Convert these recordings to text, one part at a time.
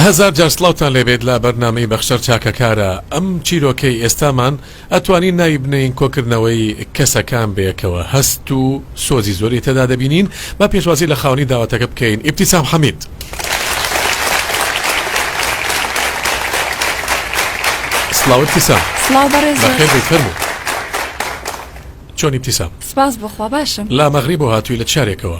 هەزار جار سڵاوتان لێبێت لە بەرنامەی بەخشەر چاکەکارە ئەم چیرۆکەی ئێستامان ئەتوانین ناوی بنێین کۆکردنەوەی کەسەکان بەیەکەوە هەست و سۆزی زۆری تێدا دەبینین با پێشوازی لە خاوەنی داوەتەکە بکەین ئیبتیسام حەمید. سڵاو ئیبتیسام سڵاو بەڕێز بەخێر بێی فەرموو چۆن ئیبتیسام سپاس بۆخوا باشم لا مەغریب و هاتووی لە چارێکەوە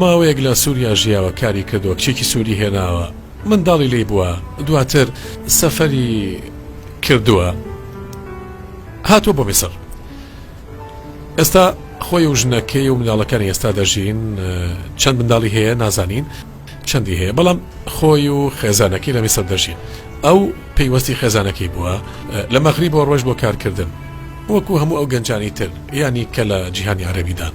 ماوەیەک لە سوریا ژیاوە کاری کردوە کچێکی سوری هێناوە منداڵی لی بوە دواتر سەفەری کردوە هاتوە بۆ میسر ئێستا خۆی و ژنەکەی و منداڵەکانی ئێستا دەژین چەند منداڵی هەیە نازانین چەندی هەیە بەڵام خۆی و خێزانەکەی لە میسر دەژین ئەو پەیوەستی خێزانەکەی بووە لە مەغری بۆ ڕۆژ بۆ کارکردن وەکو هەموو ئەو گەنجانی تر ینی کە لە جیهانی عربیدان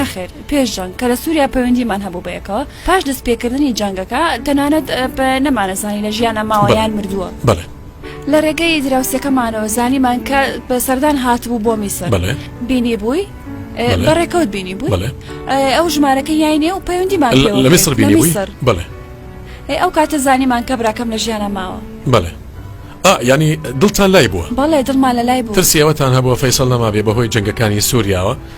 نەخێر پێش جەنگ کە لە سووریا پەیوەندیمان هەبوو بە یەکەوە پاش دەستپێکردنی جەنگەکە تەنانەت نەمانەزانی لە ژیانە ماوەیان مردووە بڵێ لە ڕێگەی دراوسەکەمانەوە زانیمان کە بە سەردان هاتبوو بۆ میسر بینی بووی بە ڕێکەوت بینی بوو ئەو ژمارەکە یاینێ و پەیوەندیمان لە میسر بینی بووی بڵێ ئەو کاتە زانیمان کە براکەم لە ژیانە ماوە بڵێ ینی دڵتان لای بووە بەڵێ دڵمان لە لای بوو ترسیەوەتان هەبووە فەیسەڵ نەمابێ بەهۆی جنگەکانی سووریاوە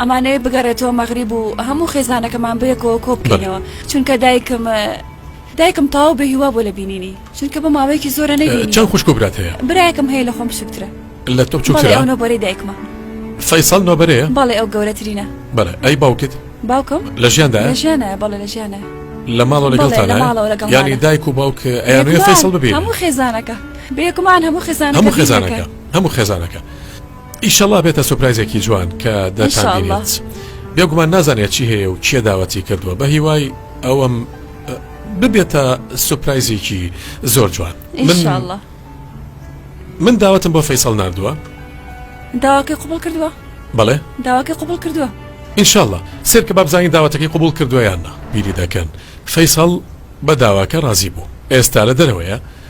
ئەمانەوێت بگەڕێتەوە مەغریب و هەموو خێزانەکەمان بەیەکەوە کۆ بکەینەوە چونکە دایکم دایکم تاو بە هیوا بۆ لە بینینی چونکە بە ماوەیەکی زۆرە نەبینی چەند خوشک و برات هەیە برایەکم هەیە لە خۆم بچووکترە لە تۆ بچووکترە ئەو نۆبەرەی دایکمە فەیسەڵ نۆبەرەیە بەڵێ ئەو گەورەترینە بەڵێ ئەی باوکت باوکم لە ژیاندا لە ژیانە بەڵێ لە ژیانە لە ماڵەوە بەڵێ لە لەگەڵتانە ماڵەوە لەگەڵمانە. یانی دایک و باوک ئەیانوێ فەیسەڵ بێکمان ببینن هەموو خێزانەکە بێکمان هەموو خێزانەکە هەموو خێزانەکە بینەکە. هەموو خێزانەکە ئیشەڵا بێتە سوپرایزێکی جوان کە دەتانبینێت بێگومان نازانێت چی هەیە و کێ داوەتی کردووە بە هیوای ئەوەم ببێتە سوپرایزێکی زۆر جوان من من داوەتم بۆ فەیسەڵ نردووە داواکەی قوبڵ کردووە بەڵێ داواکەی قوبڵ کردووە ئینشاءله سرکە بابزانانی داواتەکەی قوبڵ کردویاننا بیری دەکەن فەیسەڵ بە داواکە ڕازی بوو ئێستا لە دەرەوەیە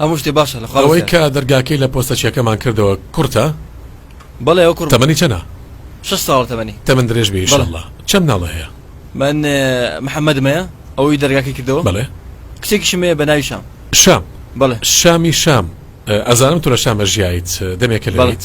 هەموو شتێ باشە لە خوا ئەوەی کە دەرگاکەی لە پۆستەچیەکەمان کردەوە کورتە؟ بەڵێ ئەو کورتە تەمەنی چەنە؟ شەش ساڵە تەمەنی تەمەن درێژ بێ ئیشەڵا چەند مناڵە هەیە؟ من محەمەدم هەیە ئەوەی دەرگاکەی کردەوە بەڵێ کچێکیشم هەیە بە ناوی شام شام بەڵێ شامی شام ئەزانم تۆ لە شام ئەژیایت دەمێکە لەوێیت؟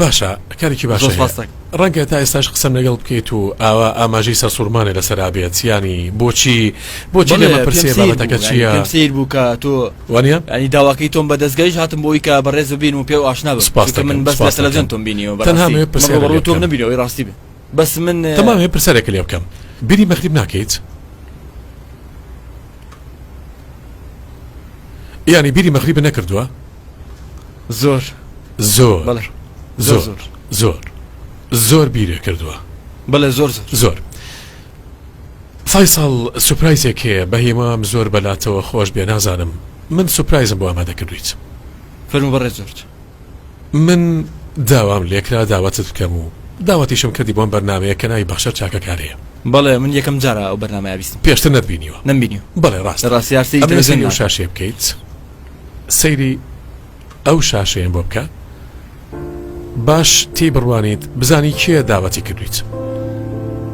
باشە کارێکی باش ڕەنگە تا ئێستاش قسەم لەگەڵ بکەیت و ئاوا ئاماژەی سەرسوورمانێ لەسەرا بێت ینی بۆچی بۆچی لێمە پرسێ بابەتەکە چیە سیر بووکە تۆ وانە ئەنی داواکەی تۆم بە دەستگەیش هاتم بۆی کە بەڕێز ببین و پێ و ئاشنا بەسپاس من بەس لە تەلەزیۆن تۆم بینیەوە بەنامێ پرسێ تۆم نبیرەوەی ڕاستی بێت بەس من تەمامێ پرسەرێک لێ بکەم بیری مەخریب ناکەیت یانی بیری مەغریبە نەکردووە زۆر زۆر بەڵێ زۆر زۆر زۆر زۆر زۆر بیرێ کردووە بەڵێ زۆر زۆر زۆر سای ساڵ سوپرایزێک هەیە بە هیوام زۆر بەلاتەوە خۆش بێ نازانم من سوپرایزم بۆ ئامادە کردویت فەرمو بەڕێ زۆرج من داوام لێکرا داوەتت بکەم و داوەتیشم کردی بۆم بەرنامەیە کە ناوی بەخشەر چاکەکارەیە. بەڵێ من یەکەم جارە ئەو بەرنامەیە بیستم. پێشتر نەتبینیوە؟ نەم بینیوە. بەڵێ ڕاستە. لە ڕاستیا سەیری تەلەفزیۆن ناکەم. ئەمەوێ سەیری ئەو شاشەیە بکەیت. سەیری ئەو شاشەیەم بۆ بکە باش تێی بڕوانیت بزانی کێ داوەتی کردویت.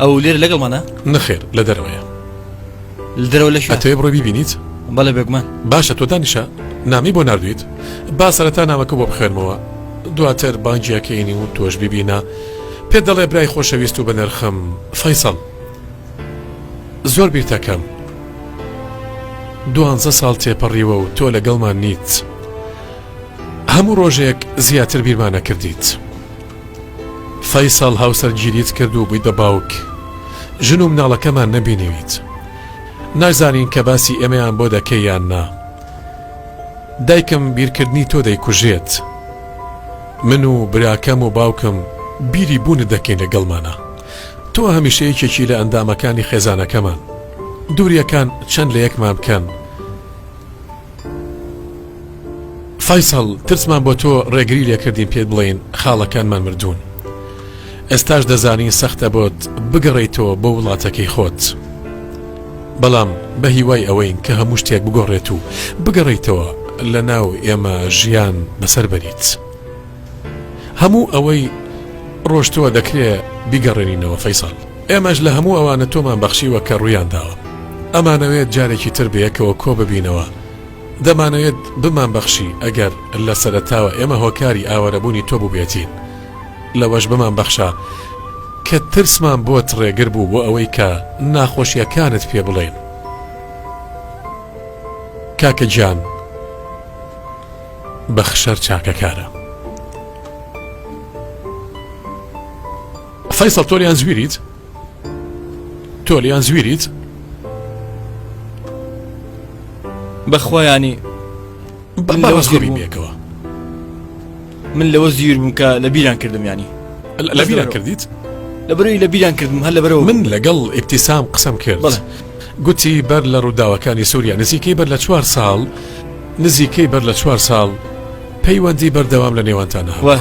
ئەو لێرە لەگەڵمانە؟ نەخێر لە دەرەوەیە. لدرەوە لە شوێ بڕۆ بیبینیت بەڵێ بێگومان باشە تۆ دانیشە نامی بۆ نردویت با سەرەتا نامەکە بۆ بخێنمەوە دواتر بانجیەکەینی و تۆش ببینە پێ دەڵێ برای خۆشەویست و بەنرخم فەیسەڵ زۆر بیرتەکەم دوانزە ساڵ تێپەڕیوە و تۆ لەگەڵمان نیت هەموو ڕۆژێک زیاتر بیرمانە کردیت. فەیسەڵ هاوسەرگیریت کرد و بوویتە باوک ژن و مناڵەکەمان نەبینیویت نازانین کە باسی ئێمەیان بۆ دەکەی یان نا دایکم بیرکردنی تۆ دەیکوژێت من و براکەم و باوکم بیری بوونت دەکەین لەگەڵمانە تۆ هەمیشە یەکێکی لە ئەندامەکانی خێزانەکەمان دووریەکان چەند لە یەکمان بکەن فەیسەڵ ترسمان بۆ تۆ ڕێگری لێکردین پێت بڵێین خاڵەکانمان مردوون ئێستاش دەزانین سەختە بۆت بگەڕێیتەوە بۆ وڵاتەکەی خۆت بەڵام بە هیوای ئەوەین کە هەموو شتێک بگۆڕێت و بگەڕیتەوە لە ناو ئێمە ژیان بەسەر بەریت هەموو ئەوەی ڕۆشتووە دەکرێ بیگەڕێنینەوە فەیسەڵ ئێمەش لە هەموو ئەوانە تۆمان بەخشیوە کە ڕوویان داوە ئەمانەوێت جارێکی تر بەیەکەوە کۆ ببینەوە دەمانەوێت بمانبەخشی ئەگەر لە سەرەتاوە ئێمە هۆکاری ئاوارەبوونی تۆ بووبێتین لەوەش بمانبەخشە کە ترسمان بۆت ڕێگر بوو بۆ ئەوەی کە ناخۆشیەکانت پێ بڵێین کاکە گیان بەخشەر چاکەکارە فیصل تۆریان زویریت تۆ لیان زویریت بەخوایانی بەکەوە من لەوە زیر بووم کە لە بیران کردم ینی لە بیران کردیت لەبەروی لە بیران کردم هەر لەبەرەوە من لەگەڵ ئیبتیسام قسم کرد گوتی بەر لە ڕووداوەکانی سووریا نزیکەی بەر لە چوار ساڵ نزیکەی بەر لە چوار ساڵ پەیوەندی بەردەوام لە نێوانتانەوە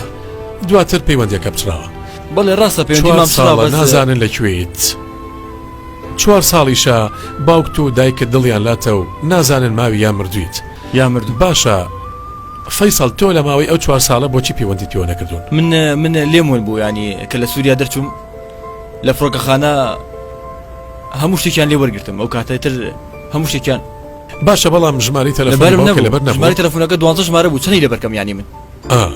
دواتر پەیوەندەکە بچراوە بەڵێ ڕاستە پێوەندی مام سڵاو بەس چوار ساڵە نازانن لە کوێیت چوار ساڵیشە باوکت و دایکت دڵیان لاتە و نازانن ماوی یا مردویت یا مردوو باشە فەیسەڵ تۆ لە ماوەی ئەو چوار ساڵە بۆچی پەیوەندیت پێوە نەکردوون من من لێم ون بوو ینی کە لە سووریا دەرچووم لە فڕۆکەخانە هەموو شتێکیان لێ وەرگرتم ئەو کاتە تر هەموو شتێکیان باشە بەڵام ژماری تەلەفۆنی لەبەرم باوکە لەبەر نەبوو نەبوو ژماری تەلەفۆنەکە دوازدە ژمارە بوو چنی لەبەرکەم یانی من ئا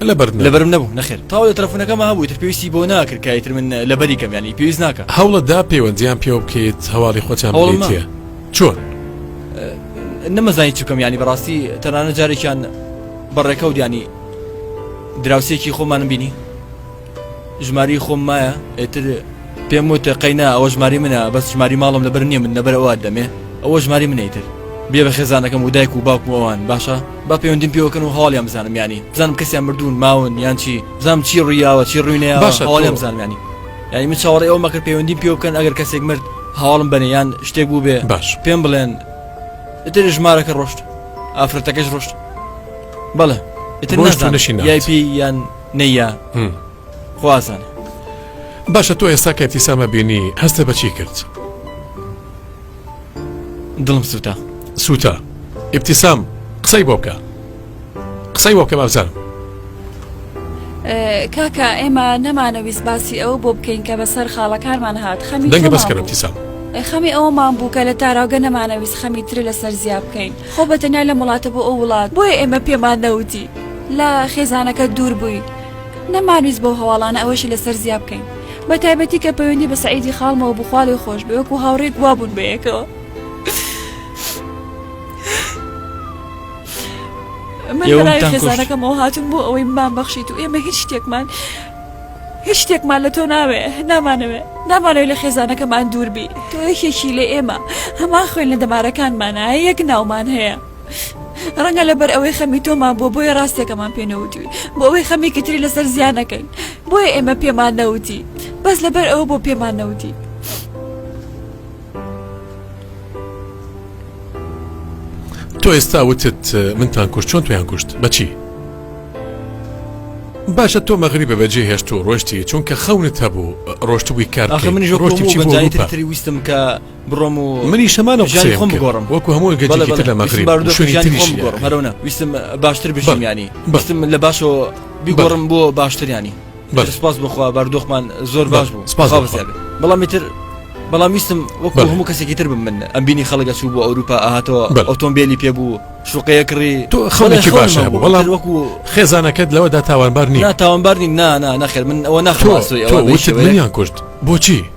لەبەرت نەبوو؟ لەبەرم نەبوو نەخێر تاوەلێ تەلەفونەکەمە هەبوو ئیتر پێویستی بۆ ناکرد کە ئیتر من لەبەری کەم یانی پێویست ناکا. هەوڵت دا پەیوەندیان پێوە بکەیت هەواڵی خۆتیان هەوڵم ما. بدەیتێ چۆن؟ نەمەزانی چ بکەم یانی بەڕاستی تەنانەت جارێکیان بە ڕێکەوت یانی دراوسێکی خۆمانم بینی. ژماری خۆم مایە ئێتر پێم وتە قەینا ئەوە ژماری منە بەس ژماری ماڵم لەبەر نییە من لەبەر ئەوە دەمێ ئەوە ژماری منەیتر بێ بە خێزانەکەم و دایک و باوکم ئەوان باشە با پەیوەندیم پێوەکەن و هەواڵیان بزانم ینی بزانم کەسیان مردوون ماون یان چی بزانم چی ڕوویاوە چی ڕووینەیە باشە هەواڵیان بزانم ینی ینی من چاوەڕێ ئەوە مەکرد پەیوەندیم پێ بکەن ئەگەر کەسێک مرد هەواڵم بەنێ یان شتێک بوو بێ باش پێم بڵێن ئتر ژمارەکە ڕۆشت ئافرەتەکەش ڕۆشت بەڵێ ئتر نشین یان نەیە خوازانە. باشە تۆ ئێستا کە ئیبتیسامە بینی هەستت بە چی کرد؟ دڵم سووتا سووتا ئیبتیسام قسەی بۆ بکە قسەی بۆ بکە بابزانم کاکە ئێمە نەمانەویست باسی ئەو بۆ بکەین کە بەسەر خاڵەکانمان هات خەمی دەنگە بەس کە ئیبتیسام خەمی ئەوەمان بوو کە لە تاراوگە نەمانەویست خەمی ترە لەسەر زیاب بکەین خۆ بە تەنیا لە وڵاتە بۆ ئەو وڵات بۆیە ئێمە پێمان نەوتی. لە خێزانەکەت دوور بووی نەمانویست بەو هەواڵانە ئەوەشی لەسەر زیا بکەین بە تایبەتی کە پەیوەندی بە سعیدی خاڵمەوە بخوالێ خۆش بێ وەکو هاوڕێک وابوون بەیەکەوە من لەناوی خێزانەکەمەوە هاتون بۆ ئەوەی مام بەخشیت و ئێمە هیچ شتێکمان هیچ شتێکمان لە تۆ ناوێ نامانەوێ نامانەوەی لە خێزانەکەمان دووربی تۆ یەکێکی لە ئێمە هەمان خوێن لە دەمارەکانمانە یەک ناومان هەیە ڕەنگە لەبەر ئەوەی خەمی تۆمان بۆ بۆیە ڕاستێکەمان پێنەوتوی بۆ ئەوەی خەمێکی تری لەسەر زیانەکەین بۆیە ئێمە پێمان نەوتی بەس لەبەر ئەوە بۆ پێمان نەوتی تۆ ئێستا وتت منتان کوشت چۆن تویان کوشت بەچی باشە تۆ مەغری بە بەجێ هێشت و ڕۆشتی چونکە خەونت هەبوو ڕۆشتبووی کار منی ڕۆشتی ویستم کە بڕۆم و منیش هەمان و ژانی خۆم بگۆڕم وەکو هەموو گەجێکی تر لە مەغرب شوێنی تریش بگۆڕم هەرەوە ویستم باشتر بژیم ینی بەستم لە باشەوە بیگۆڕم بۆ باشتریانی بەر سپاس بخوا باردۆخمان زۆر باش بوو سپاس بەزیاد بەڵام تر بەڵام ویستم وەکو هەموو کەسێکی تر بم من ئەم بینی خەڵگە چوو بۆ ئەوروپا ئاهاتەوە ئۆتۆمبیلی پێ بوو شوقەیە کڕی تۆ خەڵێکی باشە بوو بەڵام وەکو خێزانەکەت لەوەدا تاوانبار نیە تاوانبار نیم نا نا نەخێر من ئەوە ناخۆسوی ئەوە وشت منیان کوشت بۆچی؟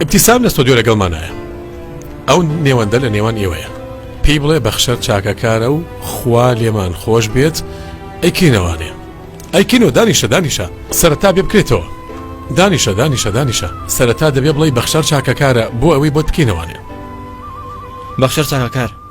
ئیبتیسام لە ستۆدیۆ لەگەڵمانایە ئەو نێوەندە لە نێوان ئێوەیە پێی بڵێ بەخشەر چاکەکارە و خوا لێمان خۆش بێت ئەی کەی نەوانێ ئەی کەینەوە دانیشە دانیشە سەرەتا بێ بکرێتەوە دانیشە دانیشە دانیشە سەرەتا دەبێ بڵێی بەخشەر چاکەکارە بۆ ئەوەی بۆت بکەینەوانێ بەخشەر چاکەکار.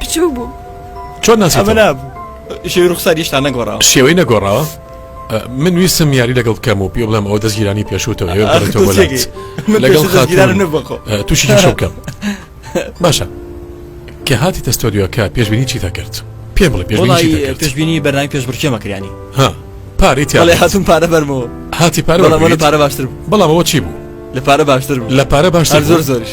بچوو بوو چۆن ناسەمەلا شێوی ڕوخسار یشتا نەگۆڕاوە شێوەی نەگۆڕاوە من ویستم یاری لەگەڵ کەم و پێ بڵم ئەو دەستگیرانی پێشوتەوە لەگەڵ تووشی شەکەم باشە کە هاتی تەستۆدیۆکە پێشببینی چی دەکرد پێ بڵێ پێشببینی بەرنامی پێش برچێمە کریانی ها پارەی تیاڵێ هاتون پارە بەرمەوە هاتی پارە پارە باشتر بەڵامەوە چی بوو لە پارە باشتر لە پارە باشتر زۆر زۆرش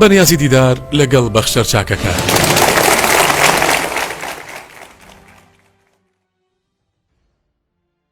بەنیازی دیدار لەگەڵ بەخشەر چاکەکار.